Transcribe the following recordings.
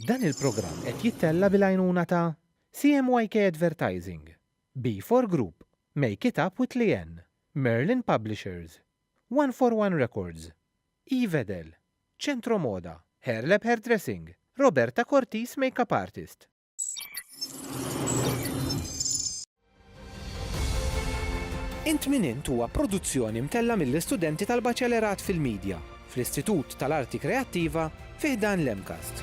Dan il-programm qed jittella' bil-għajnuna ta' CMYK Advertising, B4 Group, Make It Up with Leanne, Merlin Publishers, One for One Records, Evedel, Centro Moda, Hairlab Hairdressing, Roberta Cortis Makeup Artist. Int Min Int huwa produzzjoni mtellgħa mill-istudenti tal-Baċelerat fil-Midja fl-Istitut tal-Arti Kreattiva fi ħdan l-MCAST.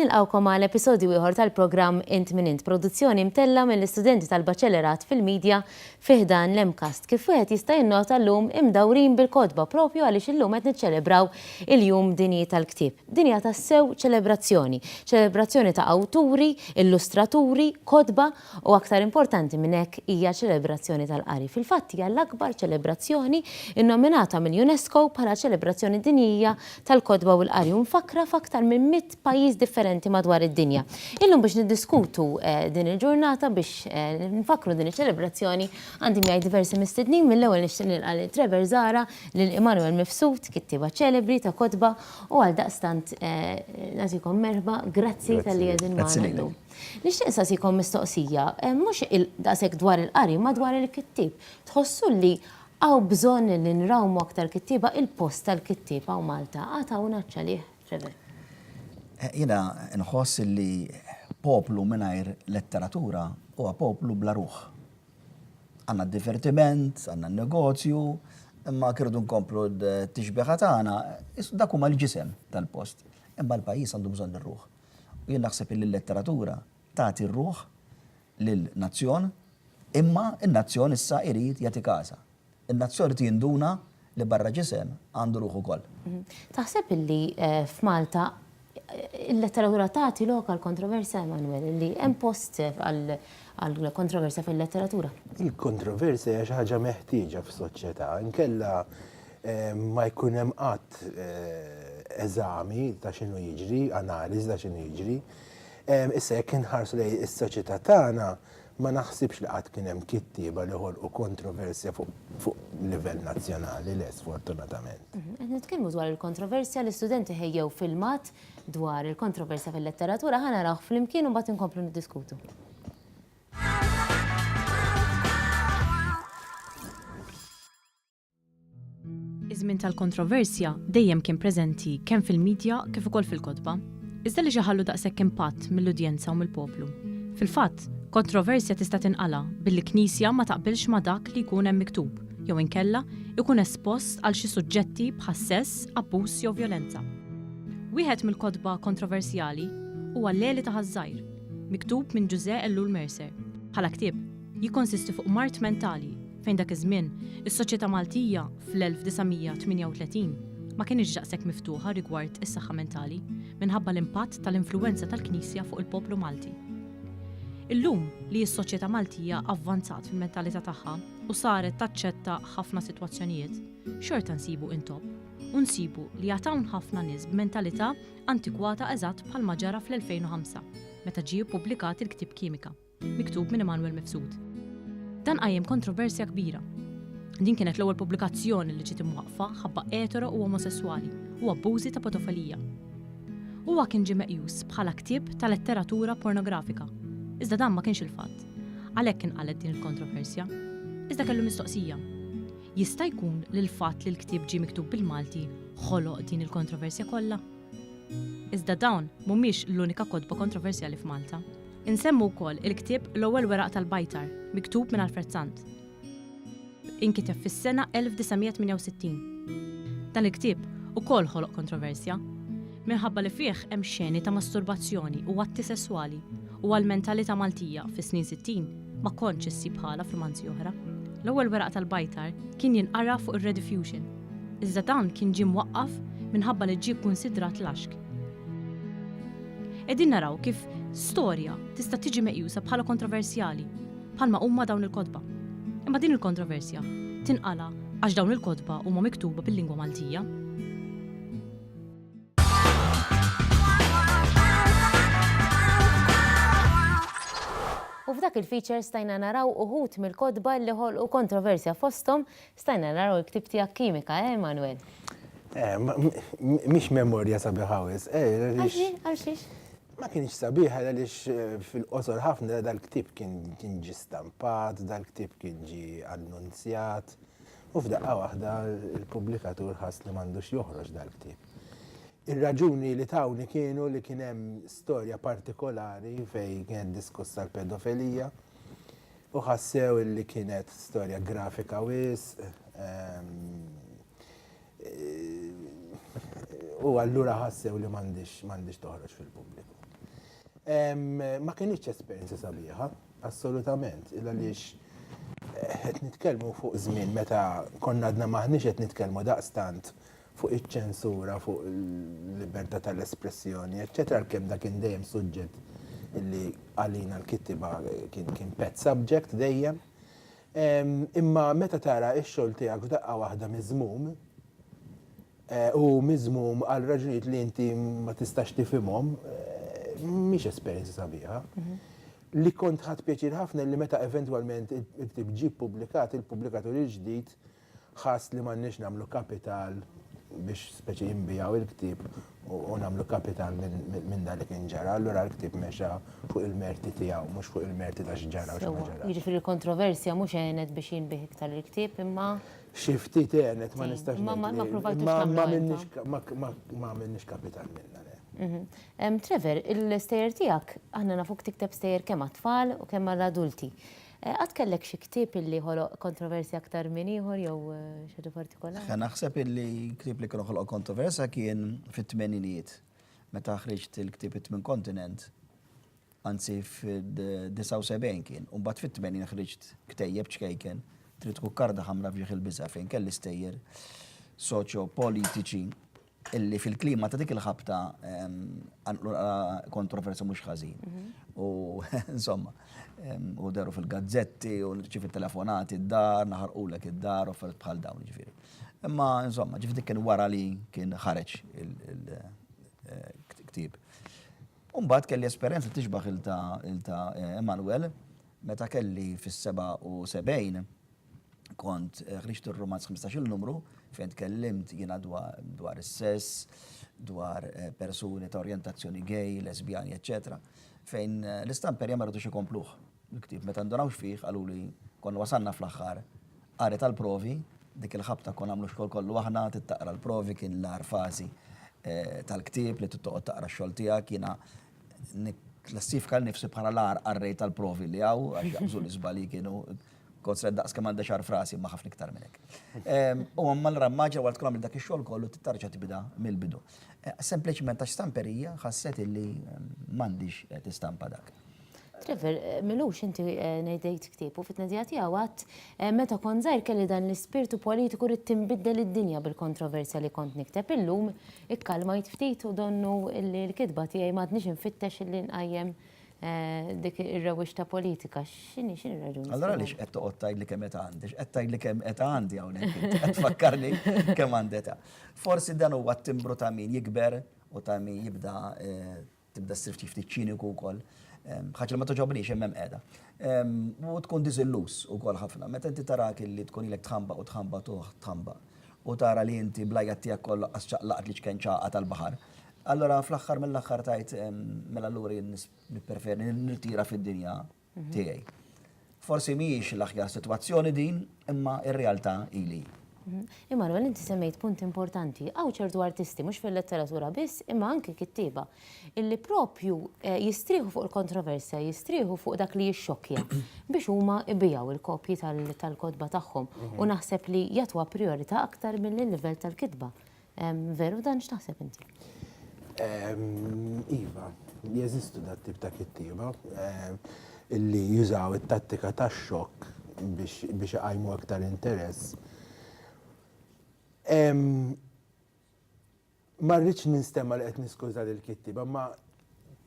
Nilqgħukom għal episodju ieħor tal-programm Int Min Int, produzzjoni mtellgħa mill-istudenti tal-Baċellerat fil-Media fi ħdan l-MCAST. Kif wieħed jista' jinnota llum imdawrin bil-kotba propju għaliex illum qed niċċelebraw il-Jum Dinji tal-Ktieb. Din hija tassew ċelebrazzjoni, ċelebrazzjoni ta' awturi, illustraturi, kotba U aktar importanti minn hekk hija ċelebrazzjoni tal-qari. Fil-fatt hija l-akbar ċelebrazzjoni nnominata mill-UNESCO bħala ċelebrazzjoni dinjija tal-kotba u l-qari u mfakkra f'aktar minn mitt pajjiż differenti madwar id-dinja. Illum biex niddiskutu din il-ġurnata biex nfakkru din iċ-ċelebrazzjoni għandi miegħi diversi mistednin mill-ewwel nixtieq nilqa' lil Trevor Zahra, lil Emmanuel Mifsud, kittieba ċelebri ta' kotba u għaldaqstant nagħtikom merħba. Grazzi talli qegħdin magħna llum. Nixtieq insaqsikom mistoqsija, mhux daqshekk dwar il-qari imma dwar il-kittieb. Tħossu li hawn bżonn li nrawmu aktar kittieba? Il-post tal-kittieb hawn Malta għad hawn għatx għalih, Trevor? Jiena nħoss li poplu mingħajr letteratura huwa poplu bla ruħ. Għandna d-divertiment, għandna n-negozju, imma jekk irridu nkomplu t-tixbieha tagħna, dak huma l-ġisem tal-post. Imma l-pajjiż għandu bżonn ir-ruħ. U jien naħseb illi l-letteratura tagħti r-ruħ lil nazzjon, imma n-nazzjon issa irid jagħti kasha. In-nazzjon irid jinduna li barra ġisem għandu ruħ ukoll. Taħseb illi f'Malta il-letteratura tagħti lok għal kontroversja, Emanuel, illi hemm post għal kontroversja fil-letteratura? Il-kontroversja hija xi ħaġa meħtieġa f'soċjetà, inkella ma jkun hemm qatt eżami ta' x'inhu jiġri, analiżi ta' x'inhu jiġri. Issa jekk inħarsu lejn is-soċjetà tagħna, ma naħsibx li qatt kien hemm kittieba li ħolqu kontroversja fuq livell nazzjonali, le sfortunatament. Mhm, qed nitkellmu dwar il-kontroversja li studenti ħejjew filmat dwar il-kontroversja fil-letteratura, ħa narawh flimkien u mbagħad inkomplu niddiskutu. Iż-żmien tal-kontroversja dejjem kien preżenti kemm fil-midja kif ukoll fil-kotba, iżda li xi ħallu daqshekk impatt mill-udjenza u mill-poplu. Fil-fatt, kontroversja tista' tinqala' billi knisja ma taqbilx ma' dak li jkun hemm miktub jew inkella jkun espost għal xi suġġetti bħas-sess, abbuż jew vjolenza. Wieħed mill-kotba kontroversjali huwa L-Għeli ta' Ħaż-Żgħir, miktub minn Ġużè Ellul Mercer, bħala ktieb, jikkonsisti fuq mard mentali, Fejn dak iż-żmien, is-soċjetà Maltija, fl-1938, ma kinitx daqshekk miftuħa rigward is-saħħa mentali, minħabba l-impatt tal-influwenza tal-Knisja fuq il-poplu Malti. Illum, li s-soċjetà Maltija avvanzat fil-mentalità tagħha u saret taċċetta ħafna sitwazzjonijiet, xorta nsibu intopp u nsibu li għad hawn ħafna nies b'mentalità antikwata eżatt bħalma ġara fl-2005, meta ġie ppubblikat il-ktieb Kimika. miktub minn Emanuel Mifsud. Dan qajjem kontroversja kbira. Din kienet l-ewwel pubblikazzjoni li ġiet imwaqqfa ħabba etero u omosesswali u abbużi ta' potofolija. Huwa kien ġie meqjus bħala ktieb ta' letteratura pornografika. Iżda dan ma kienx il-fatt. Għalhekk inqalgħet din il-kontroversja. Iżda kellu mistoqsija. Jista' jkun li l-fatt li l-ktieb ġie miktub bil-Malti ħoloq din il-kontroversja kollha? Iżda dawn mhumiex l-unika kotba kontroversjali f'Malta. Insemmu wkoll il-ktieb L-Ewwel Weraq tal-Bajtar, miktub minn Alfred Sant. Inkiteb fis-sena 1968. Dan il-ktieb ukoll ħoloq kontroversja, minħabba li fih hemm xeni ta' masturbazzjoni u atti sesswali u għall-mentalità Maltija fis-snin sittin ma kontx issib ħala f'rumanzi oħra. L-Ewwel Weraq tal-Bajtar kien jinqara fuq ir-Rediffusion. Iżda dan kien ġie mwaqqaf minħabba li ġie kkunsidrat laxk. Qegħdin naraw kif storja tista' tiġi meqjusa bħala kontroversjali, bħalma huma dawn il-kotba. Imma din il-kontroversja tinqala' għax dawn il-kotba huma miktuba bil-lingwa Maltija. U f'dak il-feature stajna naraw uħut mill-kotba li ħolqu kontroversja fosthom Stajna naraw il-ktieb tiegħek Kimika, eh, Manwel? Eh, mhix memorja sabiħa wis. Eh, għal xiex? Ma kienx sabiħa għaliex eh, fil-qosor ħafna dal-ktieb kien ġi stampat, dal-ktieb kien ġi annunzjat. U f'daqqa waħda il-pubblikatur ħass li m'għandux joħroġ dal-ktieb. Ir-raġuni li tawni kienu li kien hemm storja partikolari fejn kien diskussa l-pedofilija. U ħassew illi kienet storja grafika wisq. U allura ħassew li m'għandhiex toħroġ fil-pubbliku. Ma kinitx esperjenza sabiħa, assolutament, il għaliex qed nitkellmu fuq żmien meta konna għadna m'aħniex qed nitkellmu daqstant fuq iċ-ċensura, fuq il-libertà tal-espressjoni, eċċetera, għalkemm dak kien dejjem suġġett li għalina l-kittieba kien pet subject dejjem. Imma meta tara x-xogħol tiegħek f'daqqa waħda miżmum, u miżmum għal raġunijiet li inti ma tistax tifhimhom, mhix esperjenza sabiħa. Li kont ħadt pjaċir ħafna li meta eventwalment il-ktieb ġie ppubblikat, il-pubblikatur il-ġdid Ħass li m'għandniex nagħmlu kapital biex speċi jinbiegħu l-ktieb u nagħmlu kapital minn dak li kien ġara, allura l-ktieb mexa fuq il-merti tiegħu mhux fuq il-merti ta' x'ġara u x'ma ġarax. Jiġifieri l-kontroversja mhux għenet biex jinbiegħ iktar il-ktieb imma. Xi ftit għenet ma nistax ngħid. Imma ma ppruvajtux tagħmlu. Ma għamilniex kapital minnha le. Trevor, il-stejjer tiegħek aħna nafuk tikteb stejjer kemm għat-tfal u kemm għall-adulti. Qatt kellek xi ktieb illi ħoloq kontroversja aktar minn ieħor jew xi ħaġa partikolari? Naħseb illi ktieb li kien ħoloq kontroversja kien fit-tmeninijiet meta ħriġt il-ktieb It-Tmien Kontinent, anzi fid-79 kien, u mbagħad fit-80 ħriġt ktejjeb ċkejken, Trid tkun karda ħamra f'ġieħ il-biża' fejn kelli stejjer soċjopolitiċi illi fil-klima ta' dik il-ħabta għanqlu kontroversja mhux ħażin. Mhm. U insomma, u deru fil-gazzetti, u ċif il-telefonati d-dar, naħarqulek id-dar, u fert bħal dawn ġifiri. Imma insomma, ġifiri kien wara li kien ħareġ il-ktib. Eh, Umbat kelli esperienza tiġbaħ il-ta' eh, Emanuel, meta kelli fis-77, kont ħriġt ir-rumanz 15-il numru fejn tkellimt jiena dwar is-sess, dwar eh, persuni ta' orjentazzjoni gay, lesbjani, eċċetera, fejn eh, l-istamperja ma rridux ikompluh. Il-ktib meta ndunawx fih qalu li kon wasanna fl-aħħar qari tal-provi, dik il-ħabta kon għamlu xogħol kollu aħna, tittaqra l-provi kien l-ar fażi eh, tal-ktib li tittoqgħod taqra x-xogħol tiegħek jiena klassifika l-nifsi bħala l-ar qarrej tal-provi li għaw, għax jaqbżu l-izbali kienu Kotret daqs kemm għandha xar frasi imma ħafna iktar minn hekk. Ehm, u għamma l-rammaġa wara tkun dak ix-xogħol kollu tittarġa tibda mill-bidu. Eh, sempliċement għax stamperija ħasset illi ehm, m'għandix eh, tistampa dak. Trevor, eh, milux inti eh, nejdejt ktib u fit-nedija tiegħu għat eh, meta kon zaħir kelli dan l-ispirtu politiku rrid tinbiddel id-dinja bil-kontroversja li kont nikteb illum ikkalmajt ftit u donnu li l-kitba tiegħi m'għadniex infittex li nqajjem dik ir-rewwixta politika, x'inhi x'inhi raġuni? Allora għaliex qed toqgħod tgħid li kemm età għandi, qed tgħid li kemm età għandi hawnhekk, qed tfakkarni kemm għandi età. Forsi dan huwa t-timbru ta' min jikber u ta' min jibda eh, tibda ssir ftit ċiniku wkoll. Ehm, ħaġa li ma toġobniex hemm hemm qiegħda. Ehm, u tkun diżillus ukoll ħafna. Meta inti tarak li tkun ilek tħamba u tħamba tuħ tħamba u tara li inti blajja tiegħek kollha qas ċaqlaqt li ċken ċaqa tal-baħar. Allura fl-aħħar mill-aħħar tajt mela allura jien nippreferi nirtira fid-dinja tiegħi. Forsi mhijiex l-aħjar sitwazzjoni din, imma r-realtà ili. Immanuel, inti semmejt punt importanti, hawn ċertu artisti mhux fil-letteratura biss, imma anki kittieba, illi propju eh, jistrieħu fuq il-kontroversja, jistrieħu fuq dak li jixxokkja biex huma ibijaw il-kopji tal-kodba tagħhom u naħseb li jagħtuha priorità aktar mill-livell tal-kitba. Veru dan x'taħseb inti? Iva, jeżistu dat tip ta' kittieba illi jużaw it-tattika ta' xokk biex iqajmu aktar interess. Ma rridx ninstema li qed niskuża lil kittieba, ma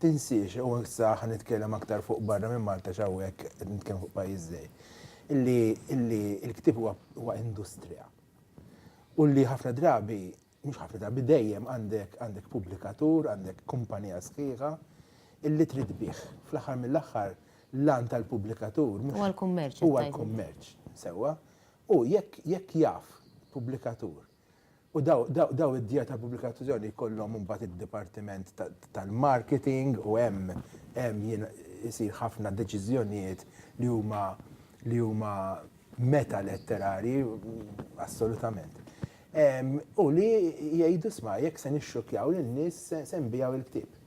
tinsiex u issa ħa nitkellem aktar fuq barra minn Malta x'hawnhekk qed nitkellem fuq pajjiż żgħir. Illi l-ktieb huwa industrija. u li ħafna drabi, mhux ħafna drabi, dejjem għandek għandek pubblikatur, għandek kumpanija sħiħa illi trid tbigħ. Fl-aħħar mill-aħħar l-għan tal-pubblikatur mhux Huwa l-kummerċ. huwa l-kummerċ, sewwa. U jekk jekk jaf pubblikatur u daw daw daw id-djar tal-pubblikazzjoni jkollhom imbagħad id-dipartiment ta- tal-marketing u hemm hemm jien isir ħafna deċiżjonijiet li huma li huma meta letterari, assolutament. U li jgħidu sma jekk se nixxukjaw lin-nies se nbijaw il-ktieb.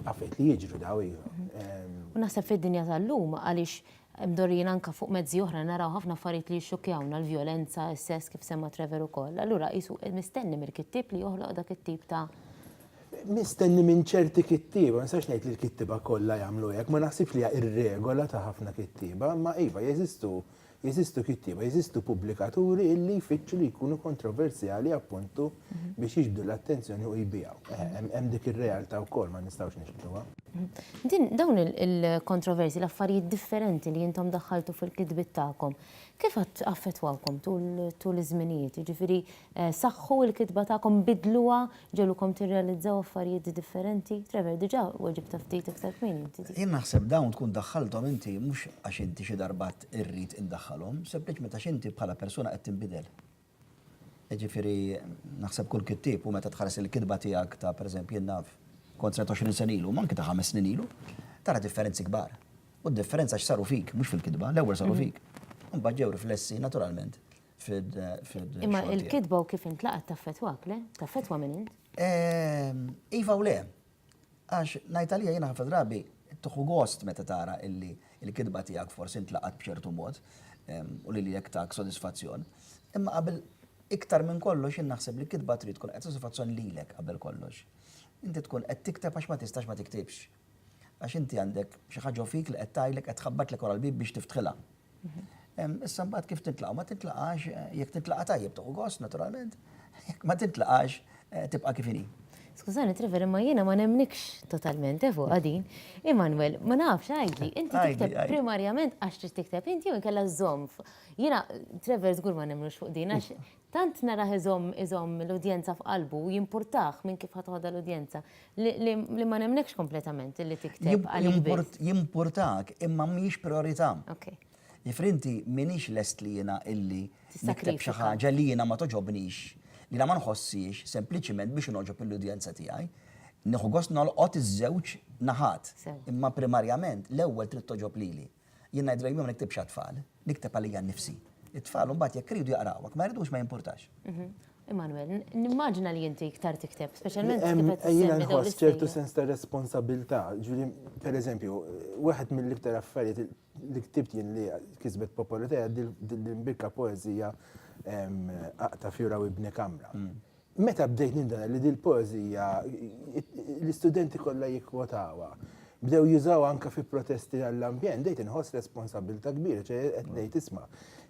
Għafet li jiġru daw iva. Mhm. U naħseb fid-dinja tal-lum għaliex mdorrijin anka fuq mezzi oħra naraw ħafna affarijiet li jixxukjawna l-vjolenza, s-sess kif semma Trevor ukoll. Allura qisu mistenni mill-kittieb li joħloq dak it-tip ta' mistenni minn ċerti kittieba, ma nistax ngħid li l-kittieba kollha jagħmlu hekk, ma naħsibx li hija r-regola ta' ħafna kittieba, imma iva jeżistu jeżistu kittieba, jeżistu pubblikaturi illi jfittxu li jkunu kontroversjali appuntu biex jiġbdu l-attenzjoni u jbigħu. Hemm dik ir-realtà wkoll ma nistgħux niġbduha. Din dawn il-kontroversji, l-affarijiet differenti li intom daħħaltu fil-kitbiet tagħkom, kif affettwawkom tul iż-żminijiet? Jiġifieri saħħu l-kitba tagħkom, bidluha, Ġegħlukom tirrealizzaw affarijiet differenti? Trevor, diġà weġibtha ftit iktar kmieni inti dik. Jien naħseb dawn tkun daħħalthom inti mhux għax inti xi darba għedt irrid indaħħalhom, sempliċement għax inti bħala persuna qed tinbidel. Jiġifieri naħseb kull kittieb u meta tħares il-kitba tiegħek ta' pereżempju jien naf kont srajt għoxrin sena ilu, m'anki ta' ħames snin ilu, tara differenzi kbar. U d-differenza x'saru fik, mhux fil-kitba, l-ewwel saru fik. Imbagħad ġew riflessi naturalment fid-xogħol. Imma il-kitba u kif intlaqat taffetwak, le? Taffetwa minn int? Ehm, iva u le. Għax ngħid għalija jiena ħafna drabi tuħu gost meta tara illi il-kitba tiegħek forsi intlaqat b'ċertu mod ehm, u li jek tak sodisfazzjon. Imma qabel iktar minn kollox jien naħseb li kitba trid tkun qed sodisfazzjon lilek qabel kollox. Inti tkun qed tikteb għax ma tistax ma tiktibx. Għax inti għandek xi ħaġa fik li qed tgħidlek qed tħabbatlek wara l-bib biex tiftħilha. Issa mbagħad kif tintlaqgħu ma tintlaqax eh, jekk tintlaqa' tajjeb toqgħu gost naturalment, jekk ma tintlaqax eh, tibqa' kif inhi. Skużani, Trevor, imma jiena ma nemnikx totalment, efu, għadin. Immanuel, ma nafx, għajdi, inti tikteb primarjament għax trid tikteb inti u nkella zomf. Jiena, Trevor, zgur ma nemnux fuq din, għax Tant narah iżomm iżomm l-udjenza f'qalbu, jimpurtah minn kif ħa toħodha l-udjenza, li li ma nemmnekx kompletament illi tikteb għalik biss. Jimpurtak, imma mhijiex prijorità. Ok. Jiġifieri inti m'iniex lest li jiena illi nikteb xi ħaġa li jiena ma togħġobnix, li jiena ma nħossiex, sempliċiment biex inogħġob lill-udjenza tiegħi. Nieħu gost nolqot iż-żewġ naħat. Sew. Imma primarjament, l-ewwel trid togħġob lili. Jien ngħid dejjem ma niktibx għat-tfal, nikteb għalija nnifsi. It-tfal imbagħad jekk iridu jaqrawha, jekk ma jridux ma jimpurtax. Immanuel, nimmaġina li inti iktar tikteb, speċjalment kif qed issemmi dawn l-istejjer. Jiena nħoss ċertu sens ta' responsabilità, ġifieri, pereżempju, wieħed mill-iktar affarijiet li ktibt jien li kisbet popolarità hija din l-imbikka poeżija Aqta' fjura u ibni kamra. Meta bdejt ninduna li dil-poeżija l-istudenti kollha jikkwotawha, bdew jużawha anke fi protesti għall-ambjent, bdejt inħoss responsabbiltà kbira, ċe qed ngħid isma',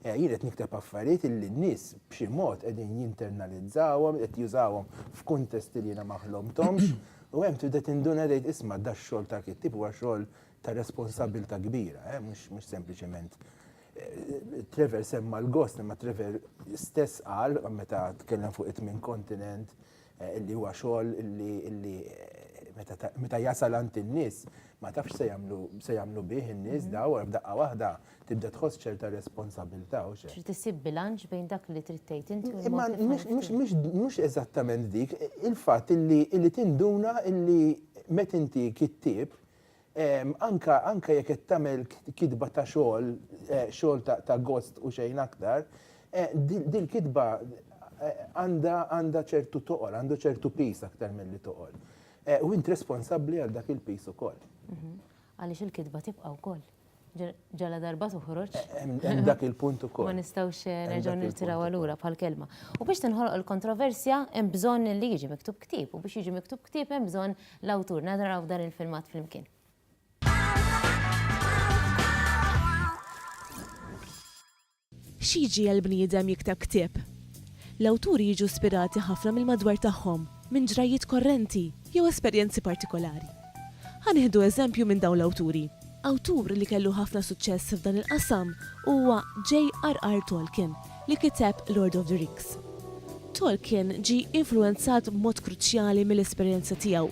jien qed nikteb affarijiet illi n-nies b'xi mod qegħdin jinternalizzawhom, qed jużawhom f'kuntesti li jiena ma ħlomthomx, u hemm tibda tinduna tgħid isma' dax-xogħol ta' kittieb huwa xogħol ta' responsabbiltà kbira, mhux sempliċement. Trevor semma l-gost, imma Trevor stess qal meta tkellem fuq it-tmien kontinent eh, li huwa xogħol li eh, meta jasal għand in-nies ma tafx se jagħmlu se jagħmlu bih in-nies mhm. daw f'daqqa waħda tibda tħoss ċerta responsabilità u xejn. Trid isib bilanċ bejn dak li trid tgħid inti u Imma mhux eżattament dik, il-fatt illi tinduna illi met inti kittieb Anke anke jekk qed tagħmel kitba ta' xogħol, xogħol ta' ta' gost u xejn aktar, dil-kitba għandha għandha ċertu toqol, għandu ċertu piż aktar milli toqol. U int responsabbli għal dak il-piż ukoll. Għaliex il-kitba tibqa' wkoll. Ġala darba toħroġ. Hemm dak il-punt ukoll. Ma nistgħux eh, nerġgħu nirtiraw allura bħal kelma. U biex tinħoloq il-kontroversja hemm bżonn li jiġi miktub ktib u biex jiġi miktub ktib hemm bżonn l-awtur nadraw dan il-filmat flimkien. X'jiġiegħel bniedem jikteb ktieb? L-awturi jiġu spirati ħafna mill-madwar tagħhom, minn ġrajjiet korrenti, jew esperjenzi partikolari. Ħa nieħdu eżempju minn dawn l-awturi. Awtur li kellu ħafna suċċess f'dan il-qasam huwa J.R.R. Tolkien li kiteb Lord of the Rings. Tolkien ġie influwenzat b'mod kruċjali mill-esperjenza tiegħu,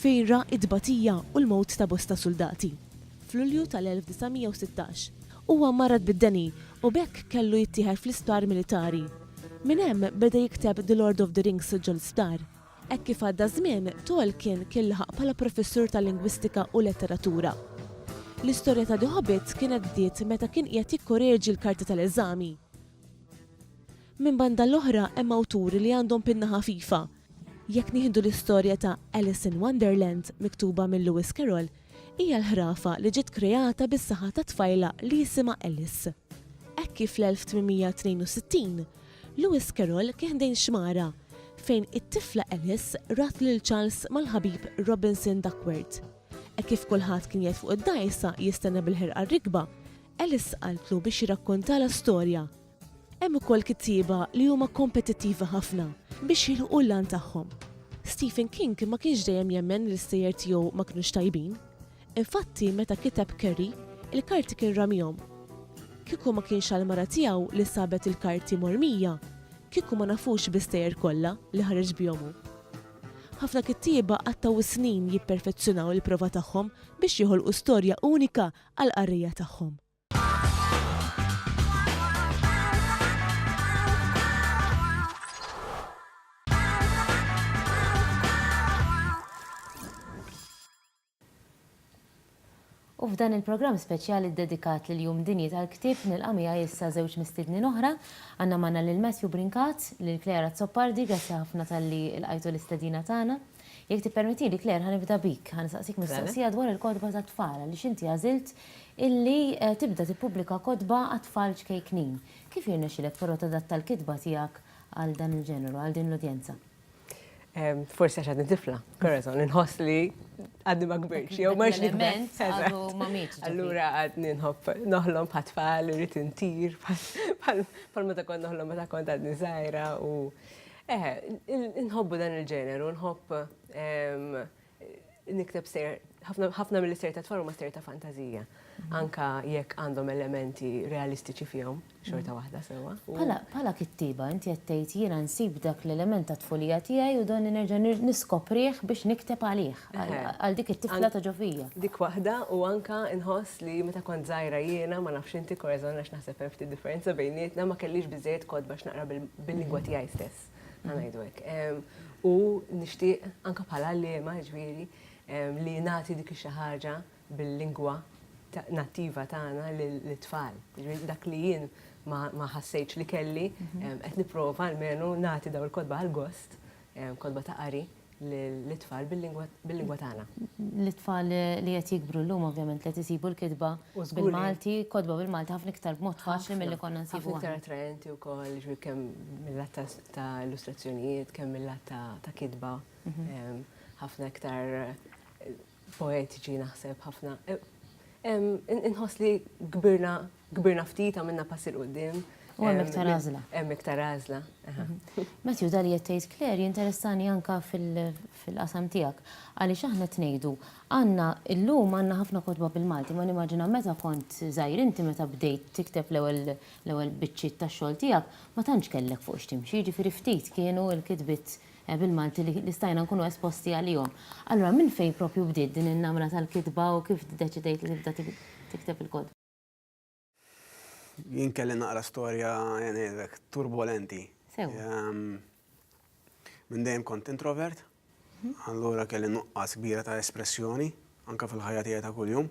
fejn ra t-tbatija u l-mewt ta' bosta suldati. F'Lulju tal-1916, Huwa mmarrad bid-deni u b'hekk kellu jittieħed fl-isptar militari. Minn hemm beda jikteb The Lord of the Rings ġol-isptar. Hekk kif għadda ż-żmien, Tolkien kien laħaq bħala professur ta' lingwistika u letteratura. L-istorja ta' The Hobbit kienet bdiet meta kien qiegħed jikkoreġi l-karti tal-eżami. Minn banda l-oħra hemm awturi li għandhom pinna ħafifa. Jekk nieħdu l-istorja ta' Alice in Wonderland miktuba minn Lewis Carroll, Hija l-ħrafa li ġiet kreata bis-saħa ta' tfajla li jisimha Alice. Hekk kif fl-1862, Lewis Carroll kien ħdejn xmara fejn it-tifla Alice rat lil Charles mal-ħabib Robinson Duckworth. Hekk kif kulħadd kien qiegħed fuq id-dgħajsa jistenna bil-ħerqa r-rikba, Alice qaltlu biex jirrakkontalha storja. Hemm ukoll kittieba li huma kompetittivi ħafna biex jilħqu l-għan tagħhom. Stephen King ma kienx dejjem jemmen li l-istejjer tiegħu ma kinux tajbin. Infatti, meta kiteb Carrie, il-karti kien ramihom. Kieku ma kienx għall-mara tiegħu li sabet il-karti mormija, kieku ma nafux bl-istejjer kollha li ħareġ bihom hu. Ħafna kittieba qattgħu s-snin jipperfezzjonaw il-prova tagħhom biex joħolqu storja unika għall-qarrejja tagħhom. U f'dan il-programm speċjali ddedikat lil Jum Dinji tal-Ktieb nilqa' miegħi issa żewġ mistiednin oħra. Għandna magħna lil Matthew Brincat, lil Claire Azzopardi, grazzi ħafna talli lqajtu l-istedina tagħna. Jekk tippermettili, Claire, ħa nibda bik. Ħa nistaqsik mistoqsija dwar il-kotba tat-tfal għaliex inti għażilt illi tibda tippubblika kotba għat-tfal ċkejknin. Kif jirnexxilek però tadatta l-kitba tiegħek għal dan il-ġeneru, għal din l-udjenza? Forsi għax għadni tifla, Corazon, inħoss li għadni ma kbirx, jew ma xnikbent. Għadu ma mitx. Allura għadni nħobb noħlom bħat tfal, irrit intir, bħal ma ta' kont noħlom ma ta' kont għadni zaħira u Eħe, nħobbu dan il-ġeneru, nħobb nikteb ser, ħafna mill ser ta' tfal huma ser ta' fantazija, anka jekk għandhom elementi realistiċi fihom, xorta waħda sewa. Pala kittiba, inti qed tgħid jiena nsib dak l-element tat-tfulija tiegħi u dan nerġa' niskoprih biex nikteb għalih. għal dik it-tifla ta' ġofija. Dik waħda u anka nħoss li meta kont żgħira jiena ma nafx inti korażon għax naħseb hemm ftit differenza bejnietna ma kellix biżejjed kod biex naqra bil-lingwa tiegħi stess. Ngħidu hekk. U nixtieq anka bħala liema ġifieri li nagħti dik xi ħaġa bil-lingwa nattiva tagħna lit-tfal. Dak li jien ma ħassejtx li kelli qed nipprova almenu nagħti daw il-kotba għall-gost, kotba ta' qari. lit-tfal bil-lingwa tagħna. Lit-tfal li qed jikbru llum ovvjament li qed isibu l-kitba bil-Malti, kotba bil-Malti ħafna iktar b'mod faċli milli konna nsibuha. Ħafna iktar attraenti wkoll, jiġifieri kemm mil-lat ta' illustrazzjonijiet, kemm mil-lat ta' kitba, ħafna iktar poetiċi naħseb ħafna. Inħoss li kbirna kbirna ftit għamilna pass il qudiem U hemm iktar għażla. Hemm iktar għażla. Mhm. Matthew, dali qed tgħid Claire jinteressani anka fil-qasam tiegħek għaliex aħna tnejdu għandna llum għandna ħafna kotba bil-Malti ma nimmaġina meta kont żgħir inti meta bdejt tikteb l-ewwel biċċiet tax-xogħol tiegħek ma tantx kellek fuq x'timxi, ġifieri ftit kienu l-kitbiet bil-Malti li stajna nkunu esposti għalihom. Allura minn fejn proprju bdiet din in-namra tal-kitba u kif ddeċidejt li tibda tikteb il-kotba? Jien kelli naqra storja ngħidlek turbolenti. Minn dejjem kont introvert, allura kelli nuqqas kbira ta' espressjoni anke fil-ħajja tiegħi ta' kuljum.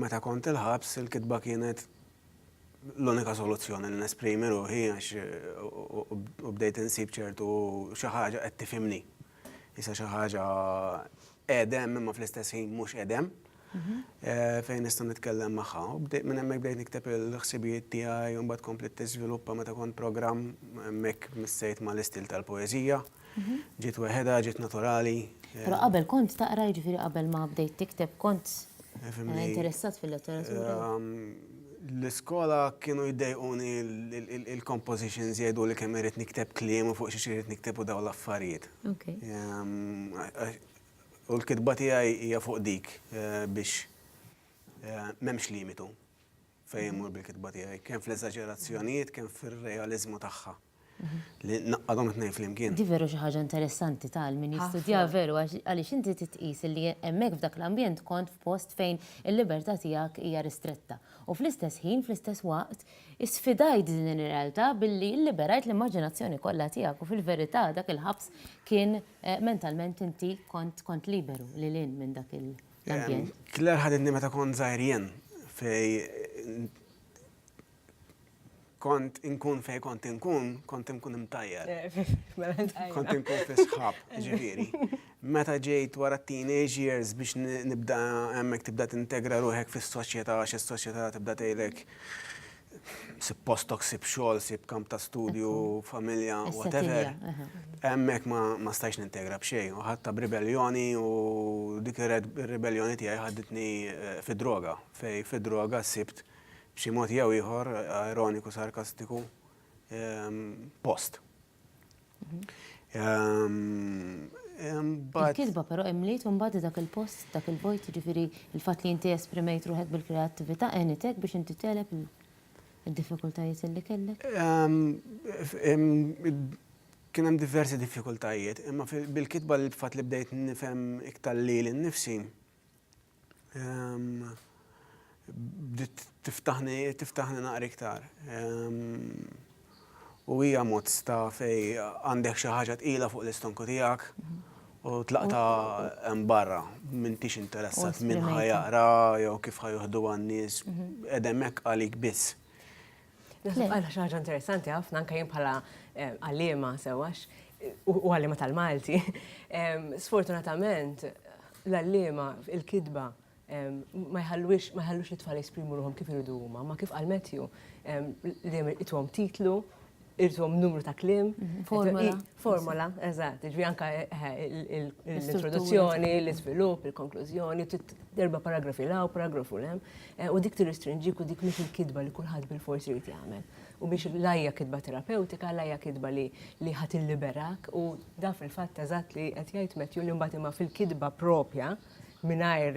Meta kont il-ħabs il-kitba kienet l-unika soluzzjoni li nesprimi ruħi għax u bdejt insib ċertu xi ħaġa qed tifhimni. Issa xi ħaġa qegħdem imma fl-istess ħin mhux qegħdem mhm. eh, fejn nista' nitkellem magħha. U bdejt minn hemmhekk bdejt nikteb il-ħsibijiet tiegħi u mbagħad komplet tiżviluppa meta kont programm hemmhekk missejt mal-istil tal-poeżija. Ġiet weħedha, ġiet naturali. Però qabel kont taqra jiġifieri qabel ma bdejt tikteb kont interessat fil-letteratura? L-iskola kienu jiddejquni il-compositions jgħidu li kemm irrid nikteb kliem u fuq xiex irrid nikteb u daw l-affarijiet. U l-kitba tiegħi hija fuq dik biex m'hemmx limitu fejn immur bil-kitba tiegħi, kemm fl-eżaġerazzjonijiet, kemm fir-realiżmu tagħha. li naqqa' dawn it-tnejn flimkien. Di veru xi ħaġa interessanti ta' għal min jistudja veru għaliex inti tqis li hemmhekk f'dak l-ambjent kont f'post fejn il-libertà tiegħek hija ristretta u fl-istess ħin, fl-istess waqt, isfidajt din ir-realtà billi illiberajt l-immaġinazzjoni kollha tiegħek u fil-verità dak il-ħabs kien mentalment inti kont liberu lil hinn minn dak l-ambjent. Claire ħaditni meta kont żgħir jien fejn kont inkun fej kont inkun, kont inkun imtajjar. Kont inkun fi sħab, ġifieri. Meta ġejt wara teenage years biex nibda hemmhekk tibda tintegra ruħek fis-soċjetà għax is-soċjetà tibda tgħidlek sib postok, sib xogħol, sib kamp ta' studju, familja, whatever. Hemmhekk ma stajx nintegra b'xejn. U ħadd ta' b'ribelljoni u dik ir-ribelljoni tiegħi ħaditni eh, fid-droga. Fej fid-droga sibt b'xi mod jew ieħor ironiku, sarkastiku, post. Il-kitba però imliet imbagħad dak il-post, dak il-vojt, jiġifieri l-fatt li inti esprimejt ruħek bil-kreattività għenitek biex inti tegħleb id-diffikultajiet li kellek? Kien hemm diversi diffikultajiet, imma bil-kitba l-fatt li bdejt nifhem iktar lili nnifsi, bdiet tiftaħni tiftaħni naqra iktar. U hija mod sta fej għandek xi ħaġa tqila fuq l-istonku tiegħek u tlaqta hemm barra m'intix interessat minn ħajaqra jew kif ħajuħduha n-nies qegħdemmek għalik biss. Naħseb għal ħaġa interessanti ħafna anke jien bħala eh, għalliema sewax u għalliema tal-Malti. Sfortunatament l-għalliema il-kidba ma jħallux ma jħallux li tfal jesprimu ruħom kif iridu huma, ma kif għal Matthew li itwom titlu, irtuhom numru ta' klim. Mhm. Formola. Formola, eżatt. Ġvi anka eh, eh, l-introduzzjoni, l-iżvilupp, il-konklużjoni, darba paragrafi law, paragrafu lem. Eh, u dik tirrestrinġik u dik mhix il-kidba li kulħadd bil-fors irid jagħmel. U mhix lajja kidba terapeutika, lajja kidba li li ħadd illiberak u da fil-fatt eżatt li qed jgħid Matthew li mbagħad imma fil-kidba propja mingħajr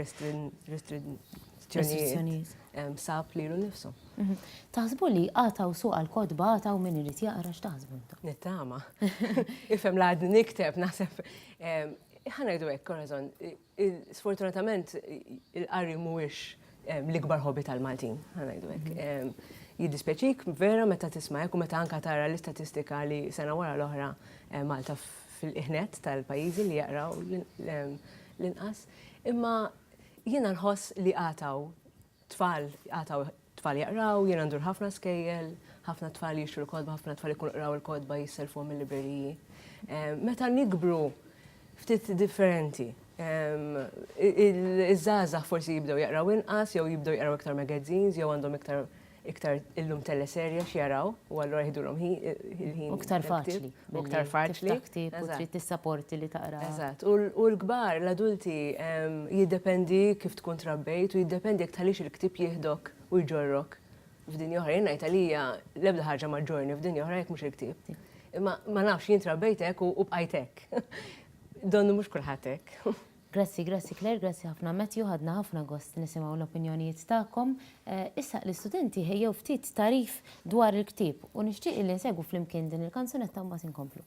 restrizzjonijiet sab lilu nnifsu. Mhm. Taħsbu li għataw suq għal-kodba għataw min irid jaqra x'taħsbu intom? Nittama. Ifhem l-għadni nikteb naħseb ħanajdu hekk, korazon, Sfortunatament il-qari mhuwiex l-ikbar hobby tal-Maltin, ħa ngħidu hekk. Jiddispjaċik vera meta tisma' hekk u meta anke tara l-istatistika li sena wara l-oħra Malta fil-qiegħ nett tal-pajjiżi li jaqraw l-inqas. Imma jiena nħoss li għad hawn Tfal jqatgħu, tfal jaqraw, jiena ndur ħafna skejjel, ħafna tfal jixtru l-kotba, ħafna tfal ikunu qraw il-kotba jisselfuhom mill-libreriji. Meta nikbru ftit differenti. Iż-żgħażagħ forsi jibdew jaqraw inqas jew jibdew jaqraw iktar magazines jew għandhom iktar iktar illum teleserje x'jaraw u allura jiħdulhom il-ħin. U iktar faċli. u ktar faċli. Tiftaħtib u trid tissaporti li taqra. Eżatt, u l-kbar, l-adulti, jiddependi kif tkun trabbejt u jiddependi jekk tħallix il-ktieb jieħdok u jġorrok f'dinja oħra. Jien ngħid għalija l-ebda ħaġa ma ġġorrni f'dinja oħra jekk mhux il-ktieb. Imma ma nafx, jien trabbejt hekk u bqajt hekk. Donnu mhux kulħadd hekk. Grazzi, grazzi Claire, grazzi ħafna Matthew, ħadna ħafna gost nisimgħu l-opinjonijiet tagħkom. Issa l-istudenti ħejjew ftit tagħrif dwar il-ktieb u nixtieq illi nsegwu flimkien din il-kanzunetta mbagħad inkomplu.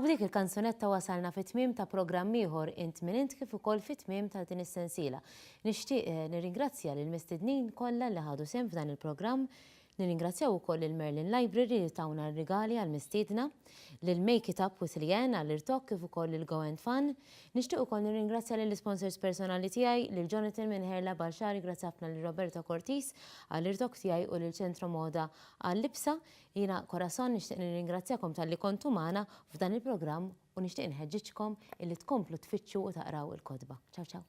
U b'dik il-kanzunetta wasalna fi tmiem ta' programm ieħor Int Min Int kif ukoll fi tmiem ta' din is-sensiela. Nixtieq eh, nirringrazzja lill-mistednin kollha li ħadu sehem f'dan il-programm, nirringrazzjaw ukoll lil Merlin Library li tawna r-rigali għall-mistiedna. lil Make It Up With Leanne għall-irtokk kif ukoll lil Go and Fun. Nixtieq ukoll nirringrazzja lill-isponsors personali tiegħi, lil Jonathan minn Hair Lab għal xagħri grazzi ħafna lil Roberto Cortis għall-irtokk tiegħi u lil Centro Moda għal-libsa. Jiena Corazon nixtieq nirringrazzjakom talli kontu magħna f'dan il-programm u nixtieq inħeġġiġkom illi tkomplu tfittxu u taqraw il-kotba. Ciao ciao.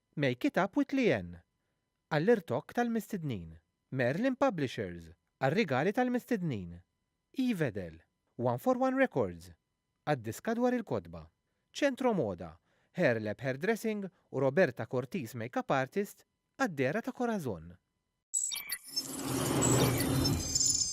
Make It Up With Leanne, għall-irtokk tal-mistednin, Merlin Publishers, għar-rigali tal-mistednin, Evedel, One for One Records, għad-diska dwar il-kotba, Centro Moda, Hair Lab Hairdressing u Roberta Cortis Makeup Artist, għad-dehra ta' Corazon.